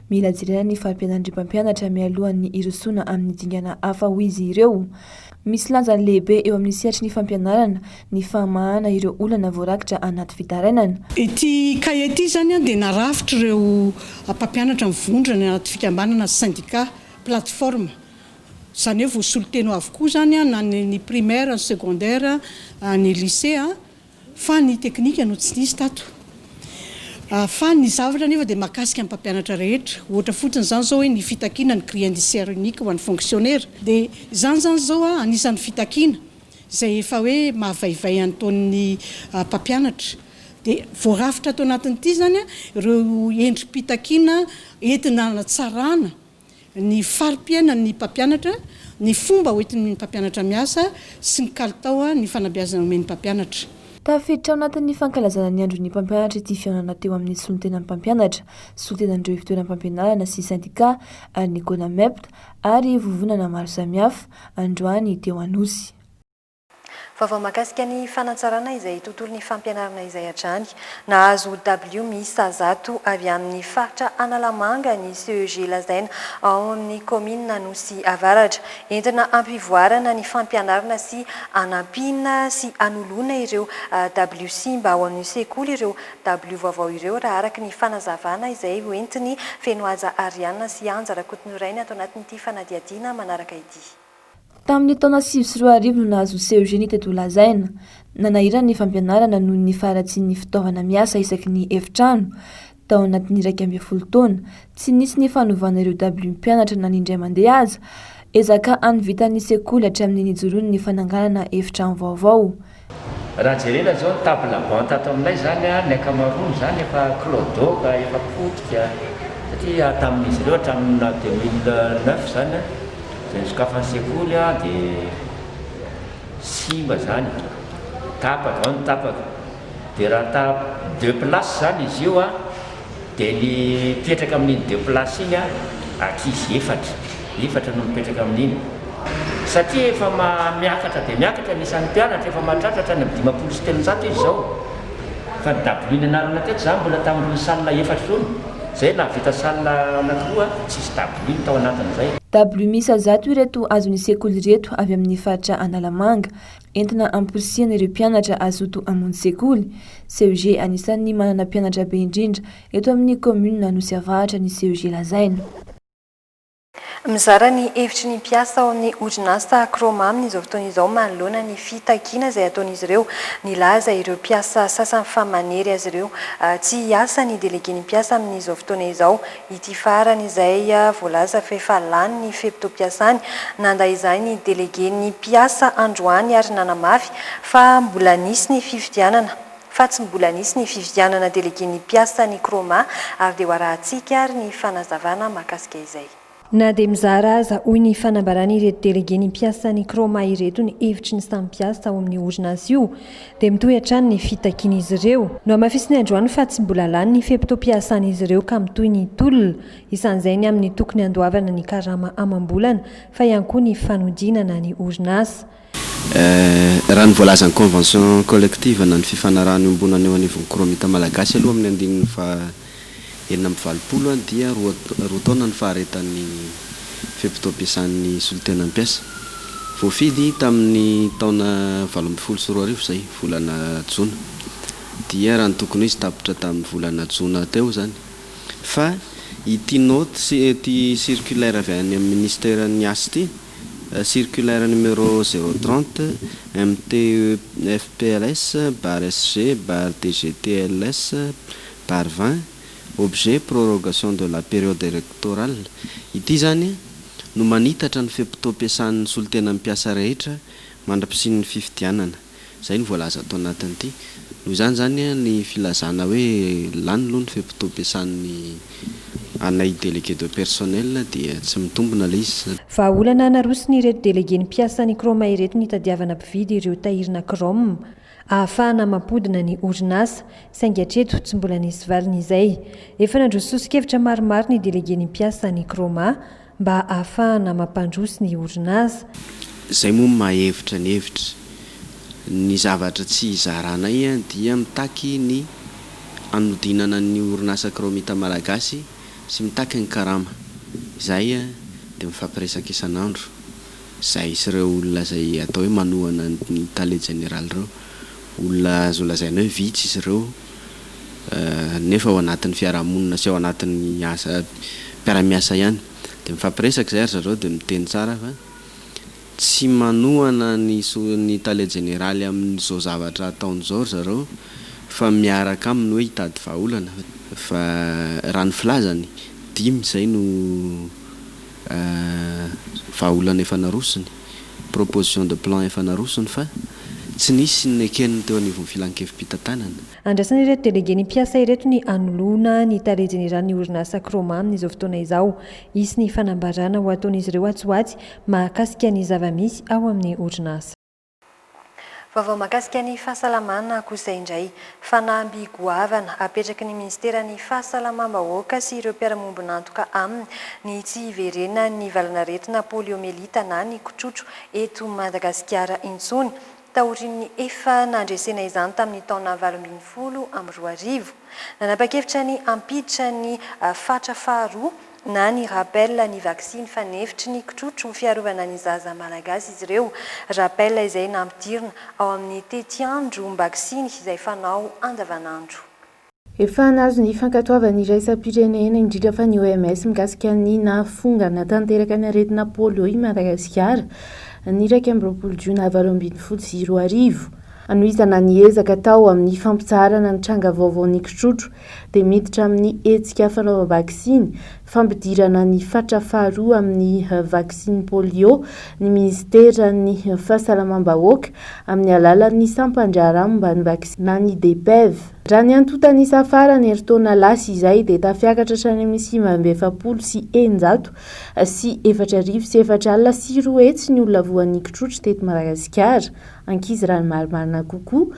Mila jerena ny fari-piainan'ireo mpampianatra mialohan'ny hirosoana amin'ny dingana hafa hoy izy ireo. Misy lanjany lehibe eo amin'ny sehatry ny fampianarana ny fahamahana ireo olana voarakitra anaty fitarainana. Ity kahie ity izany dia narafitr'ireo mpampianatra mivondrona any anaty fikambanana, syndicat, plateforme, Izany hoe vao solontena eo avokoa izany na ny primaire, ny secondaire, ny lycée fa ny teknika no tsy nisy tato. Fa ny zavatra anefa dia mahakasika ny mpampianatra rehetra. Ohatra fotsiny izany izao hoe ny fitakiana ny grille indiciaire unique ho an'ny fonctionnaire. Dia izany izany izao anisan'ny fitakiana izay efa hoe mahavaivay an'ny taon'ny mpampianatra. Dia voarafitra ato anatin'ity izany ireo endri-pitakiana entina hanatsarana ny fari-piainan' ny mpampianatra, ny fomba hoentin' ny mpampianatra miasa sy ny kalitao an' ny fanabeazana omen' ny mpampianatra. Tafiditra ao anatin' ny fankalazana ny Andron' ny Mpampianatra ity fihaonana teo amin' ny solontenan' ny mpampianatra, solontenan' ireo ivontoeram-pampianarana sy sendikà an' ny Conamept ary vovonana maro samihafa, androany teo Anosy. Vaovao mahakasika ny fanatsarana izay tontolon'ny fampianarana izay hatrany nahazo dabilio miisa zato avy amin'ny faritra Analamanga ny CEG lazaina ao amin'ny kaominina Anosy Avaratra. Entina hampivoarana ny fampianarana sy hanampiana sy hanoloana ireo dabilio simba ao amin'ny sekoly ireo dabilio vaovao ireo raha araka ny fanazavana izay hoentin'i Fenohaja Ariana sy Anja Rakotonirainy ato anatin'ity fanadihadiana manaraka ity. Tamin'ny taona sivy sy roa arivo no nahazo CEG ny teto Lazaina. Nanahirana ny fampianarana noho ny faharatsian'ny fitaovana miasa isaky ny efitrano, tao anatin'ny iraika ambin'ny folo taona. Tsy nisy ny fanovana ireo dabilion'ny mpianatra na ny indray mandeha aza. Ezaka an'ny vitan'ny sekoly hatramin'ny nijoroany ny fananganana efitrano vaovao. Raha jerena zao ny table vente ato aminay zany ny ankamaroany zany efa clodoka, efa potika, satria a tamin'izy ireo hatramin'ny na deux mille neuf zany a zay nisokafan'ny sekoly a de simba zany, tapaka, ao ny tapaka, de raha ta deux places zany izy io a. dia nipetraka amin'iny deux places iny ankizy efatra, efatra no nipetraka amin'iny, satria efa miakatra dia miakatra ny isan'ny mpianatra, efa mahatratra hatrany amin'ny dimampolo sy telonjato izy izao, fa ny dabilio nianarana teto izaho mbola tamin'irony salle efatra irony, izay nahavita salle anankiroa tsisy dabilio ny tao anatin'izay. Dabilio miisa zato ireto azon'ny sekoly ireto avy amin'ny faritra Analamanga. Entina hamporisihana ireo mpianatra hazoto hamonjy sekoly, CEG, anisan'ny manana mpianatra be indrindra eto amin'ny kaominina Anosiavahatra ny CEG lazaina. Mizara ny hevitry ny mpiasa ao amin'ny orinasa Chroma amin'izao fotoana izao manoloana ny fitakiana izay ataon'izy ireo. Nilaza ireo mpiasa sasany fa manery azy ireo tsy hiasa ny delegen'ny mpiasa amin'izao fotoana izao Ity farany izay voalaza fa efa lany ny fe-potoam-piasany. Nanda izany ny delegen'ny mpiasa androany ary nanamafy fa mbola nisy ny fifidianana fa tsy mbola nisy ny fifidianana delegen'ny mpiasa ny Croma ary dia ho arahantsika ary ny fanazavana mahakasika izay. Na dia mizara aza, hoy ny fanambaran'ireto delegen'ny mpiasa ny Croma ireto ny hevitry ny samy mpiasa ao amin'io orinasa io, dia mitohy hatrany ny fitakian'izy ireo. Nohamafisiny androany fa tsy mbola lany ny fe-potoam-piasan'izy ireo ka mitohy ny tolona, isan'izay ny amin'ny tokony handoavana ny karama amam-bolana fa ihany koa ny fanodinana ny orinasa. Raha ny voalazan'ny convention collective na ny fifanarahan'iombonana eo anivon'ny Chromite Malagasy aloha amin'ny andininy faha. Enina amby valopolo dia roa roa taona ny faharetan'ny fe-potoam-piasan'ny solontenam-piasa. Voafidy tamin'ny taona valo ambin'ny folo sy roa arivo izay, volana jona. Dia raha ny tokony ho izy tapitra tamin'ny volana jona teo izany. Fa ity naoty sy ity circulaire avy any amin'ny minisiteran'ny asa ity, circulaire numéro zéro trente MTEFPLS barre SG barre DGTLS, Darvin, objet prorogation de la période électorale, ity izany no manitatra ny fe-potoam-piasan'ny solontenan'ny mpiasa rehetra mandra-pisian'ny fifidianana. Izay no voalaza ato anatin'ity. Noho izany izany ny filazana hoe lany aloha ny fe-potoam-piasan'ny anay délégué de personnel dia tsy mitombina ilay izy. Vahaolana naroson'ireto delegen'ny mpiasan'ny Croma ireto ny hitadiavana mpividy ireo tairina Croma. ahafahana mampodina ny orinasa, saingy hatreto tsy mbola nisy valiny izay. Efa nandroso soso-kevitra maromaro ny delegen'ny mpiasa ny Croma mba hahafahana mampandroso ny orinasa. Izay moa mahevitra ny hevitra. Ny zavatra tsy hizaranay dia mitaky ny hanodinana ny orinasa Cromita Malagasy sy mitaky ny karama. Izay dia mifampiresaka isan'andro. Izay sy ireo olona izay atao hoe manohana ny tale jeneraly ireo. Olona azo lazaina hoe vitsy izy ireo nefa ao anatin'ny fiarahamonina sy ao anatin'ny asa mpiara-miasa ihany. Dia mifampiresaka izay ry zareo dia miteny tsara fa tsy manohana ny ny tale jeneraly amin'izao zavatra ataony izao ry zareo fa miaraka aminy hoe hitady vahaolana fa raha ny filazany dimy izay no vahaolana efa narosony, proposition de plan efa narosony fa tsy nisy ny neken'ny teo anivon'ny filankevi-pitantanana. Andrasan'ireto delege ny mpiasa ireto ny hanoloana ny tale jeneralin'ny orinasa Chroma amin'izao fotoana izao. Hisy ny fanambarana ho ataon'izy ireo atsy ho atsy mahakasika ny zava-misy ao amin'ny orinasa. Vaovao mahakasika ny fahasalamana kosa indray. Fanamby goavana apetraky ny minisiteran'ny Fahasalamam-bahoaka sy ireo mpiara-miombon'antoka aminy ny tsy hiverenan'ny valanaretina poliomelita na ny kotrotro eto Madagasikara intsony, taorian'ny efa nandresena izany tamin'ny taona valo ambin'ny folo amby roa arivo. Nanapa-kevitra ny hampiditra ny fatra faharoa. na ny rappel ny vaksiny fa nefitry ny kitrotro ho fiarovana ny zaza malagasy izy ireo, rappel izay nampidirina ao amin'ny tetiandrom-baksiny izay fanao andavanandro. Efa nahazo ny fankatoavan'ny iraisam-pirenena, indrindra fa ny OMS mikasika ny nahafongana tanteraka ny aretina polio i Madagasikara, ny iraika amby roapolo jona valo ambin'ny folo sy roa arivo. Hanohizana ny ezaka atao amin'ny fampitsaharana ny tranga vaovaon'ny kitrotro, dia miditra amin'ny hetsika fanaovam-baksiny fampidirana ny fatra faharoa amin'ny vaksiny polio ny minisiteran'ny Fahasalamam-bahoaka amin'ny alalan'ny sampan-draharaha momba ny vaksiny na ny DPEV. Raha ny antontan'isa farany herintaona lasa izay dia tafiakatra hatrany amin'ny sivy amby efapolo sy eninjato sy efatra arivo sy efatra alina sy roa hetsy ny olona voan'ny kitrotro teto Madagasikara. ankizy raha ny marimarina kokoa,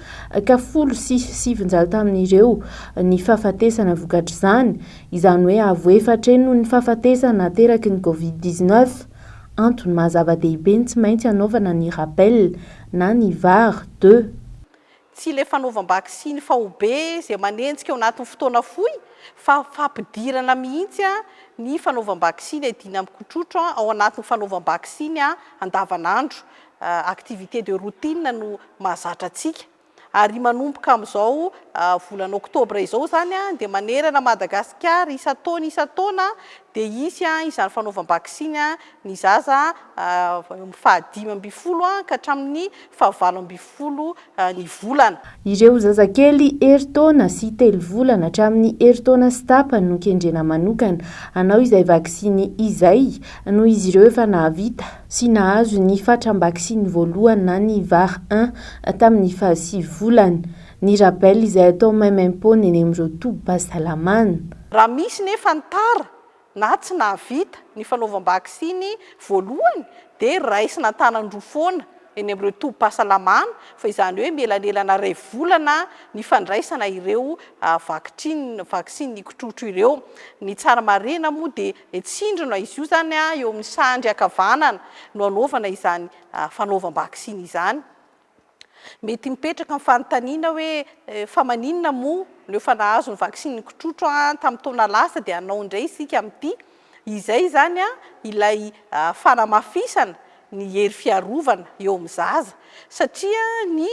ka folo sy sivinjato tamin'ireo ny fahafatesana vokatr'izany, izany hoe avo efatra eny noho ny fahafatesana ateraky ny covid dix-neuf. Antony maha zava-dehibe ny tsy maintsy hanaovana ny rappel na ny var de. Tsy ilay fanaovam-baksiny faobe izay manenjika ao anatin'ny fotoana fohy fa fampidirana mihitsy ny fanaovam-baksiny hay dinam-kotrotro ao anatin'ny fanaovam-baksiny andavanandro, activités de routine no mahazatra antsika ary manomboka amin'izao volana octobre izao izany dia manerana Madagasikara isan-taona isan-taona dia hisy izany fanaovam-baksiny ny zaza eo amin'ny faha dimy ambin'ny folo ka hatramin'ny fahavalo ambin'ny folo ny volana. Ireo zazakely herintaona sy telo volana hatramin'ny herintaona sy tapany no kendrena manokana hanao izay vaksiny izay noho izy ireo efa nahavita sy nahazo ny fatram-baksiny voalohany na ny var un tamin'ny faha sivy volana ny rappel izay atao maimaimpoana eny amin'ireo tobim-pahasalamana. Raha misy nefa ny tara na tsy nahavita ny fanaovam-baksiny voalohany dia raisina an-tanan-droa foana eny amin'ireo tobim-pahasalamana fa izany hoe mielanelana iray volana ny fandraisana ireo vaktrine, vaksiny nikotrotro ireo. Ny tsara marihina moa dia ny tsindrona izy io izany eo amin'ny sandry ankavanana no anaovana izany fanaovam-baksiny izany. Mety mipetraka ny fanontaniana hoe, fa maninona moa no efa nahazo ny vaksinin'ny kitrotro tamin'ny taona lasa dia hanao indray isika amin'ity? Izay izany ilay fanamafisana ny hery fiarovana eo amin'ny zaza, satria ny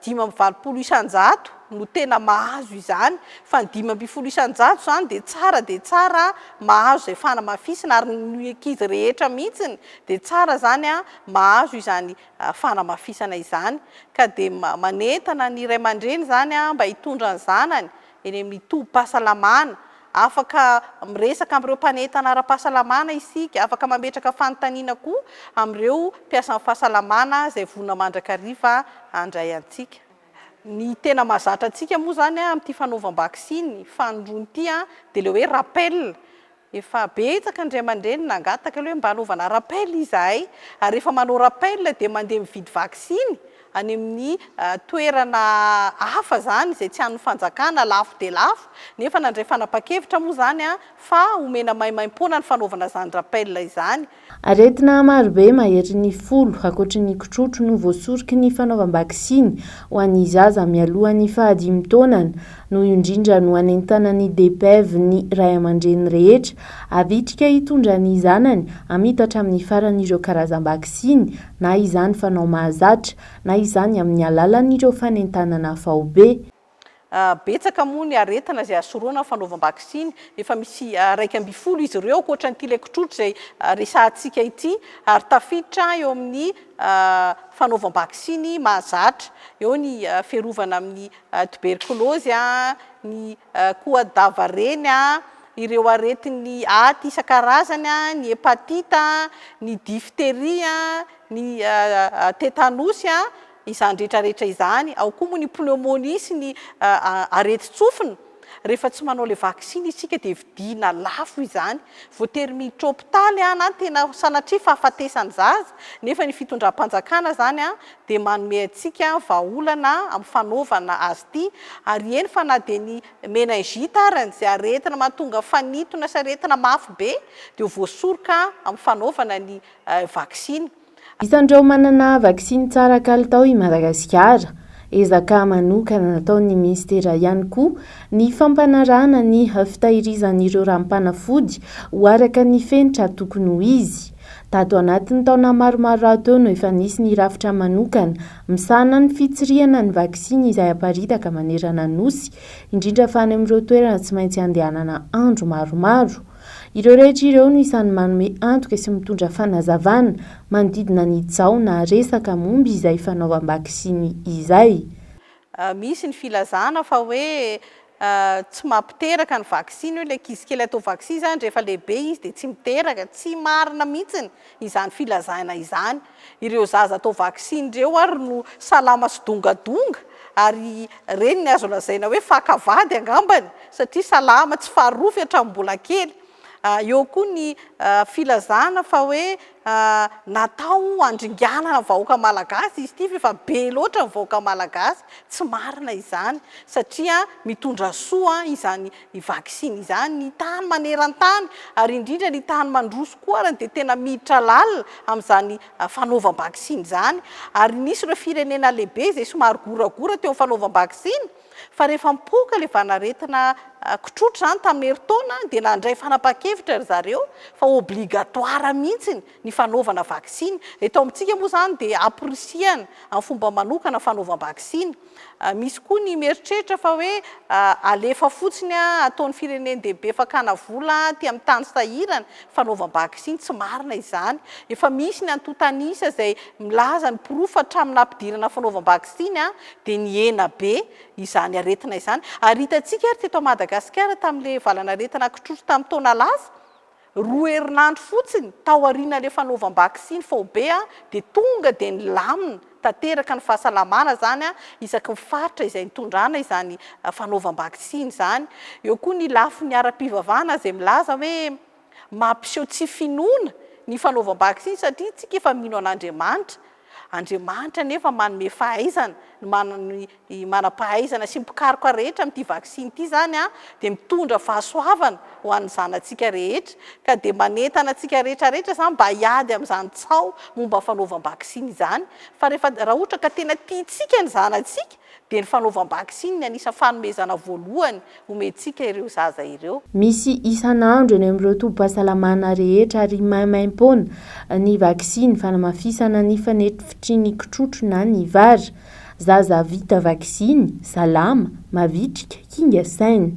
dimy amby valopolo isan-jato no tena mahazo izany, fa ny dimy ambin'ny folo isan-jato izany dia tsara dia tsara mahazo izay fanamafisana, ary ny ankizy rehetra mihitsy dia tsara izany mahazo izany fanamafisana izany ka dia manentana ny ray aman-dreny izany mba hitondra ny zanany eny amin'ny tobim-pahasalamana. Afaka miresaka amin'ireo mpanentana ara-pahasalamana isika, afaka mametraka fanontaniana koa amin'ireo mpiasan'ny fahasalamana izay vonona mandrakariva handray antsika. Ny tena mahazatra antsika moa izany amin'ity fanaovam-baksiny faharoa ity dia ilay hoe rappel. Efa betsaka ny ray aman-dreny nangataka aloha hoe mba anaovana rappel izahay ary rehefa manao rappel dia mandeha mividy vaksiny any amin'ny toerana hafa izany izay tsy an'ny fanjakana, lafo dia lafo, nefa nandray fanapahan-kevitra moa izany fa homena maimaimpoana ny fanaovana izany rappel izany. Aretina marobe mahery ny folo ankoatry ny kitrotro no voasoriky ny fanaovam-baksiny ho an'ny zaza mialohan'ny fahadimy taonany. Noho io indrindra no anentanan'ny DPEV ny ray aman-dreny rehetra havitrika hitondra ny zanany hamita hatramin'ny farany ireo karazam-baksiny, na izany fanao mahazatra, na izany amin'ny alàlan'ireo fanentanana faobe. Betsaka moa ny aretina izay asoroana fanaovam-baksiny. Efa misy iraika ambin'ny folo izy ireo, ankoatran'ity lekotrotra izay resahantsika ity, ary tafiditra eo amin'ny fanaovam-baksiny mahazatra. Eo ny fiarovana amin'ny toberkolozy, ny koa davareny, ireo aretin'ny aty isan-karazany, ny hepatita, ny difteria, ny tetanosy. Izany rehetra rehetra izany, ao koa moa ny pneumonie sy ny aretin-tsofina, rehefa tsy manao ilay vaksiny isika dia vidiana lafo izany, voatery miditra hopitaly an an tena sanatria fahafatesan'ny zaza, nefa ny fitondram-panjakana izany dia manome antsika vahaolana amin'ny fanaovana azy ity, ary eny fa na dia ny meningite arany izay aretina mahatonga fanintona sy aretina mafy be dia ho voasoroka amin'ny fanaovana ny vaksiny. Isan'ireo manana vaksiny tsara kalitao i Madagasikara. Ezaka manokana nataon'ny minisitera ihany koa ny fampanarahana ny fitahirizan'ireo ranom-panafody ho araka ny fenitra tokony ho izy. Tato anatin'ny taona maromaro raha teo no efa nisy ny rafitra manokana misahana ny fitsirihana ny vaksiny izay aparitaka manerana Nosy, indrindra fa any amin'ireo toerana tsy maintsy andehanana andro maromaro. Ireo rehetra ireo no isan'ny manome antoka sy mitondra fanazavana manodidina ny Jao na resaka momba izay fanaovam-baksiny izay. Misy ny filazana fa hoe tsy mampiteraka ny vaksiny, hoe ilay ankizy kely atao vaksiny izany rehefa lehibe izy dia tsy miteraka. Tsy marina mihitsy izany filazana izany. Ireo zaza atao vaksiny ireo ary no salama sy dongadonga ary ireny ny azo lazaina hoe faka vady angambany satria salama tsy faharofy hatramin'ny mbola kely. Eo koa ny filazana fa hoe natao handringanana ny vahoaka malagasy izy ity f'efa be loatra ny vahoaka malagasy, tsy marina izany satria mitondra soa izany ny vaksiny izany, ny tany maneran-tany ary indrindra ny tany mandroso koa arany dia tena miditra lalina amin'izany fanaovam-baksiny izany ary nisy ireo firenena lehibe izay somary goragora teo amin'ny fanaovam-baksiny fa rehefa nipoaka ilay vanaretina kitrotra izany tamin'ny herintaona dia nandray fanapahan-kevitra ry zareo fa obligatoire mihitsy Ny fanaovana vaksiny, eto amintsika moa izany dia amporisihana amin'ny fomba manokana fanaovam-baksiny. Misy koa ny mieritreritra fa hoe alefa fotsiny, ataon'ny firenen-dehibe fakana vola aty amin'ny tany sahirana ny fanaovam-baksiny. Tsy marina izany. Efa misy ny antontan'isa izay milaza ny porofo fa hatramin'ny nampidirana fanaovam-baksiny dia nihena be izany aretina izany. Ary hitantsika ary teto Madagasikara tamin'ilay valanaretina kitrotro tamin'ny taona lasa Roa herinandro fotsiny taorian'ilay fanaovam-baksiny faobe dia tonga dia nilamina tanteraka ny fahasalamana izany isaky ny faritra izay nitondrana izany fanaovam-baksiny izany. Eo koa ny lafiny ara-pivavahana izay milaza hoe mampiseho tsy finoana ny fanaovam-baksiny satria isika efa mino an'Andriamanitra Andriamanitra anefa manome fahaizana, ny mana, ny manam-pahaizana sy ny mpikaroka rehetra amin'ity vaksiny ity izany dia mitondra fahasoavana ho an'ny zanatsika rehetra ka dia manentana antsika rehetra rehetra izany mba hiady amin'izany tsaho momba fanaovam-baksiny izany fa rehefa, raha ohatra ka tena tiantsika ny zanatsika, dia ny fanaovam-baksiny ny an'isa fanomezana voalohany omentsika ireo zaza ireo. Misy isan'andro eny amin'ireo tobim-pahasalamana rehetra ary maimaim-poana ny vaksiny fanamafisana ny fanefitry ny kitrotro na ny var. Zaza vita vaksiny, salama, mavitrika, kinga saina.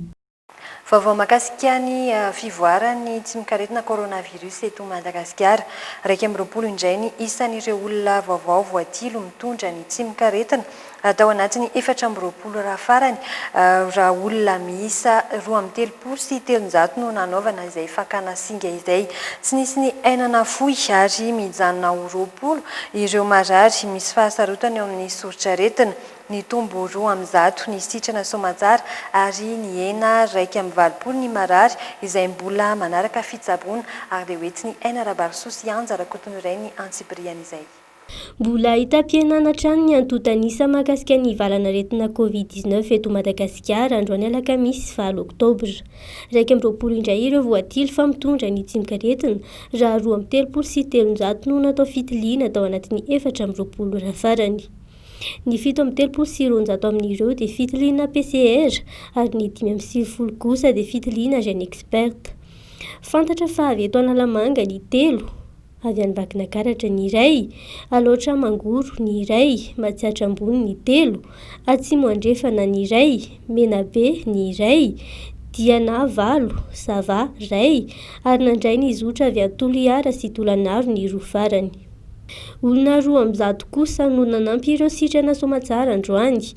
Vaovao mahakasika ny fivoaran'ny tsimok'aretina coronavirus eto Madagasikara. Iraika amby roapolo indray ny isan'ireo olona vaovao voatilo mitondra ny tsimok'aretina tao anatin'ny efatra amby roapolo ora farany, raha olona miisa roa amby telopolo sy telonjato no nanaovana izay fakana singa izay. Tsy nisy ny aina nafoy ary mijanona ho roapolo ireo marary misy fahasarotana eo amin'ny soritr'aretina. Nitombo roa amin'ny zato ny sitrana soamantsara ary nihena iraika amby valopolo ny marary izay mbola manaraka fitsaboana ary dia hoentin'i Aina Rabarisoa sy Anja Rakotonirainy antsipiriany izay. Mbola hitam-pihenana hatrany ny antontan'isa mahakasika ny valan'aretina Covid dix neuf eto Madagasikara androany alakamisy valo oktobra. Iraika amby roapolo indray ireo voatily fa mitondra ny tsimok'aretina raha roa amby telopolo sy telonjato no natao fitiliana tao anatin'ny efatra amby roapolo ora farany. Ny fito amby telopolo sy roanjato amin'ireo dia fitiliana PCR ary ny dimy amby sivifolo kosa dia fitiliana GeneXpert. Fantatra fa avy eto Analamanga ny telo, avy any Vakinakaratra ny iray, Alaotra Mangoro ny iray, Matsiatra Ambony ny telo, Atsimo Andrefana ny iray, Menabe ny iray, Diana valo, Sava ray ary nandray ny zotra avy any Toliara sy Tolanaro ny roa farany. Olona roa amby zato kosa no nanampy ireo sitrana soamantsara androany.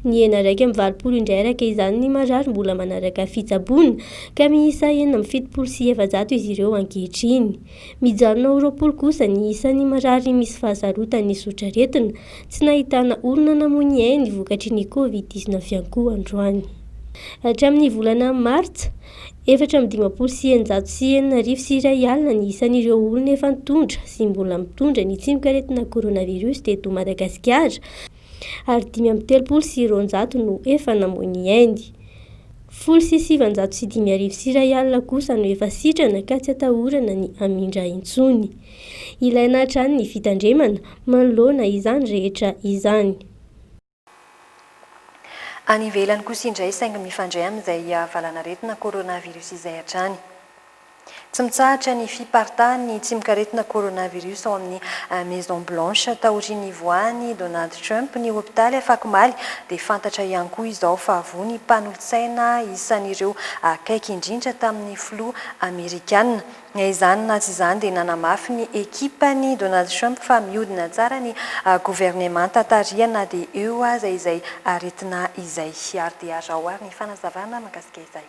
Ny enina iraika amby valopolo indray araka izany ny marary mbola manaraka fitsaboana, ka miisa enina amby fitopolo sy efajato izy ireo ankehitriny. Mijanona ho roapolo kosa ny isan'ny marary misy fahasarotan'ny zotr'aretina. Tsy nahitana olona namoy ny ainy vokatry ny Covid dix-neuf ihany koa androany. Hatramin'ny volana martsa, Efatra amby dimampolo sy eninjato sy enina arivo sy iray alina ny isan'ireo olona efa nitondra sy mbola mitondra ny tsimokaretina coronavirus teto Madagasikara ary dimy amby telopolo sy roanjato no efa namoy ny ainy. Folo sy sivanjato sy dimy arivo sy iray alina kosa no efa sitrana ka tsy atahorana ny hamindra intsony. Ilaina hatrany ny fitandremana manoloana izany rehetra izany. Any ivelany kosa indray saingy mifandray amin'izay havalan'aretina coronavirus izay hatrany. Tsy mitsahatra ny fiparitahan'ny tsimokaretina coronavirus ao amin'ny Maison Blanche. Taorian'ny nivoahan'i Donald Trump ny hopitaly afakomaly dia fantatra ihany koa izao fa voa ny mpanolotsaina isan'ireo akaiky indrindra tamin'ny filoha amerikana. Na izany na tsy izany dia nanamafy ny ekipan'i Donald Trump fa mihodina tsara ny governemanta tarihany na dia eo aza izay aretina izay. Ary dia araho ary ny fanazavana mahakasika izay.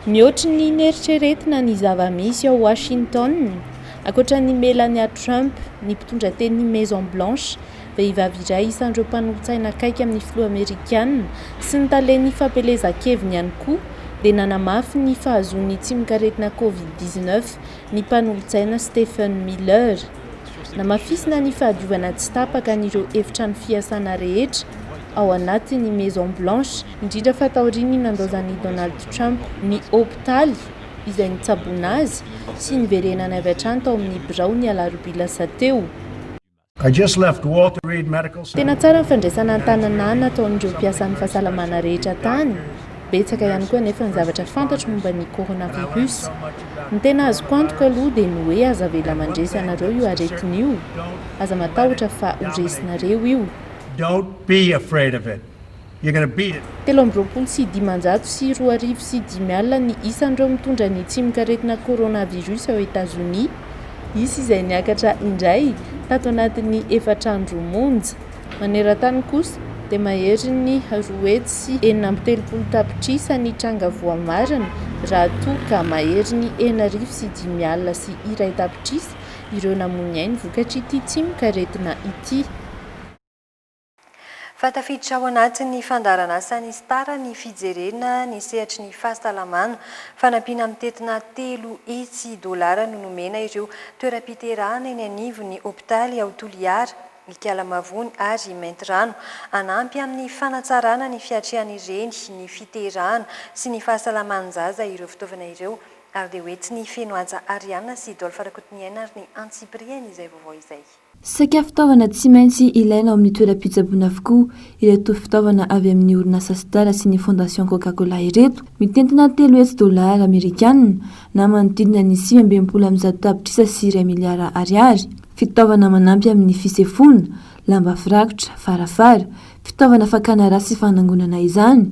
Mihoatry ny neritreretina ny zava-misy ao Washington, ankoatra ny Melania Trump, ny mpitondra tenin'ny Maison Blanche, vehivavy iray isan'ireo mpanolotsaina akaiky amin'ny filoha amerikana, sy ny talen'ny fampielezan-keviny ihany koa, dia nanamafy ny fahazoan'ny tsimokaretina covid dix neuf ny mpanolotsaina Stephen Miller. Namafisina ny fahadiovana tsy tapaka an'ireo efitrano fiasana rehetra ao anatin'ny Maison Blanche, indrindra fa taorian'ny nandaozan'i Donald Trump ny hopitaly izay nitsaboana azy sy niverenany avy hatrany tao amin'ny biraony ny alarobia lasa teo. Tena tsara ny fandraisana an-tananana nataon'ireo mpiasan'ny fahasalamana rehetra tany. Betsaka ihany koa anefa ny zavatra fantatro momba ny coronavirus. Ny tena azoko antoka aloha dia ny hoe aza avela mandresy anareo io aretina io. Aza matahotra fa ho resinareo io. Telo amby roapolo sy dimanjato sy roa arivo sy dimy alina ny isan'ireo mitondra ny tsimokaretina coronavirus ao Etazonia. Hisy izay niakatra indray tato anatin'ny efatra andro monja. Maneran-tany kosa dia maherin'ny roa hetsy sy enina amby telopolo tapitrisa ny tranga voamarina raha toa ka maherin'ny enina arivo sy dimy alina sy iray tapitrisa ireo namoy ny ainy vokatr'ity tsimokaretina ity. Fa tafiditra ao anatin'ny fandaharanasan'ny Star ny fijerena ny sehatry ny fahasalamana. Fanampiana mitentina telo hetsy dolara no nomena ireo toeram-piterahana eny anivon'ny hopitaly ao Toliara, Ikalamavony ary Maintirano, hanampy amin'ny fanatsarana ny fiatrehan'ireny ny fiterahana sy ny fahasalaman-jaza ireo fitaovana ireo ary dia hoentin'ny Fenohaja Ariana sy Dolph Rakotoniaina ary ny antsipiriany izay vaovao izay. Saika fitaovana tsy maintsy ilaina ao amin'ny toeram-pitsaboana avokoa ireto fitaovana avy amin'ny orinasa Star sy ny Fondation Coca-Cola ireto. Mitentina telo hetsy dolara amerikanina, na manodidina ny sivy amby enimpolo amby zato tapitrisa sy iray miliara ariary, fitaovana manampy amin'ny fisefoana, lamba firakotra, farafara, fitaovana fakana ra sy fanangonana izany,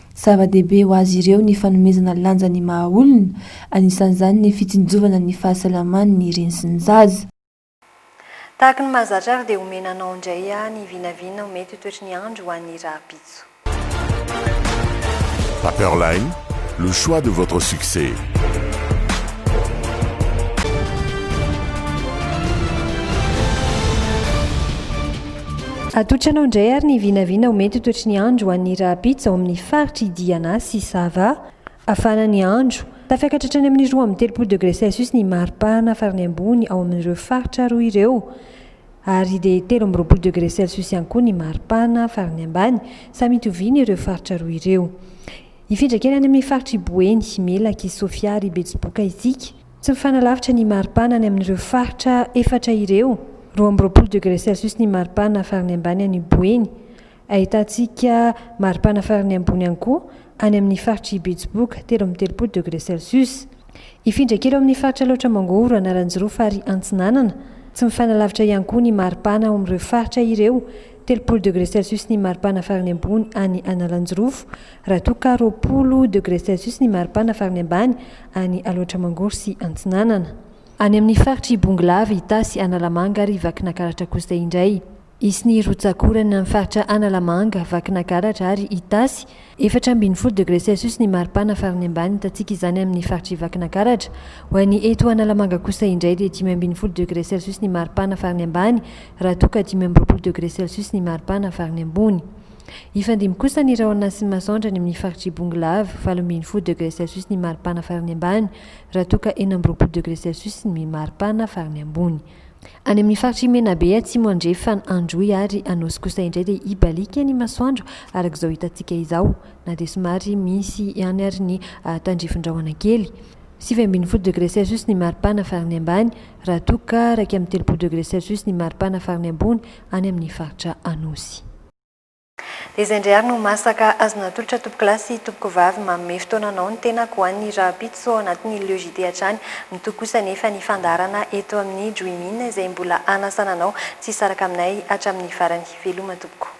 Zava-dehibe ho azy ireo ny fanomezana lanja ny maha-olona, anisan'izany ny fitsinjovana ny fahasalaman'ny reny sy ny zaza. Tahaka ny mahazatra ary dia omena anao indray aho ny vinavina ho mety ho toetry ny andro ho an'ny rahampitso. Paperline, le choix de votre succès. Atotranao indray ary ny vinavina ho mety ho toetry ny andro ho an'ny rahampitso ao amin'ny faritr' i Diana sy Sava. Hafana ny andro. Tafiakatra hatrany amin'ny roa amby telopolo degre celsius ny mari-pahana farany ambony ao amin'ireo faritra roa ireo, ary dia telo amby roapolo degre celsius ihany koa ny mari-pahana farany ambany, samy itoviany ireo faritra roa ireo. Hifindra kely any amin'ny faritr'i Boeny, Melaky, Sofia ary Betsiboka isika. Tsy mifanalavitra ny maripana any amin'ireo faritra efatra ireo, roa amby roapolo degre celsius ny maripana farany ambany any Boeny. Ahitantsika maripana farany ambony ihany koa any amin'ny faritr'i Betsiboka, telo amby telopolo degre celsius. Hifindra kely ao amin'ny faritra Alaotra Mangoro, Anaranjirofo ary Antsinanana. Tsy mifanalavitra ihany koa ny maripana ao amin'ireo faritra ireo telopolo degré celsius ny maripana farany ambony any Analanjirofo, raha toa ka roapolo degré celsius ny maripana farany ambany any Alaotra Mangoro sy Antsinanana. Any amin'ny faritr'i Bongolava, Itasy, Analamanga ary Vakinakaratra kosa indray. Hisy ny rotsak'orana amin'ny faritra Analamanga, Vakinakaratra ary Itasy Efatra ambin'ny folo degré Celsius ny maripana farany ambany hitantsika izany amin'ny faritr'i Vakinakaratra. Ho an'ny eto Analamanga kosa indray dia dimy ambin'ny folo degré Celsius ny maripana farany ambany raha toa ka dimy amby roapolo degré Celsius ny maripana farany ambony. Hifandimby kosa ny rahona sy ny masoandro any amin'ny faritr'i Bongolava, valo ambin'ny folo degré Celsius ny maripana farany ambany raha toa ka enina amby roapolo degré Celsius ny maripana farany ambony. Any amin'ny faritr'i Menabe atsimo andrefan Androy ary Anôsy kosa indray dia ibaliaka ny masoandro araka izao hitantsika izao na dia somary misy ihany ary ny tandrifin-drahona kely. Sivy ambin'ny folo degré Celsius ny maripana farany ambany raha toa ka iraika amby telopolo degré Celsius ny maripana farany ambony any amin'ny faritra Anôsy. Dia izay indray ary no masaka azonao atolotra tompokolahy sy tompokovavy manome fotoana anao ny tenako ho an'ny rahampitso ao anatin'ny LEJT hatrany. Mitohy kosa anefa ny fandaharana eto amin'ny Dream-in izay mbola hanasana anao tsy hisaraka aminay hatramin'ny farany. Veloma tompoko.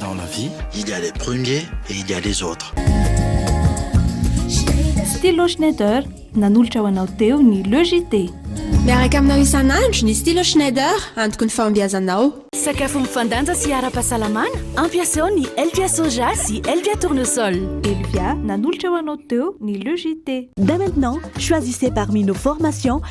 Dans la vie, il y a les premiers et il y a les autres. Stylo Schneider, nanolotra ho anao teo ny Le JT. Miaraka aminao isan'andro ny Stylo Schneider, antoky ny fahombiazanao. Sakafo mifandanja sy ara-pahasalamana? Ampiasao ny Elvia Soja sy Elvia Tournesol. Elvia, nanolotra ho anao teo ny Le JT. Dès maintenant, choisissez parmi nos formations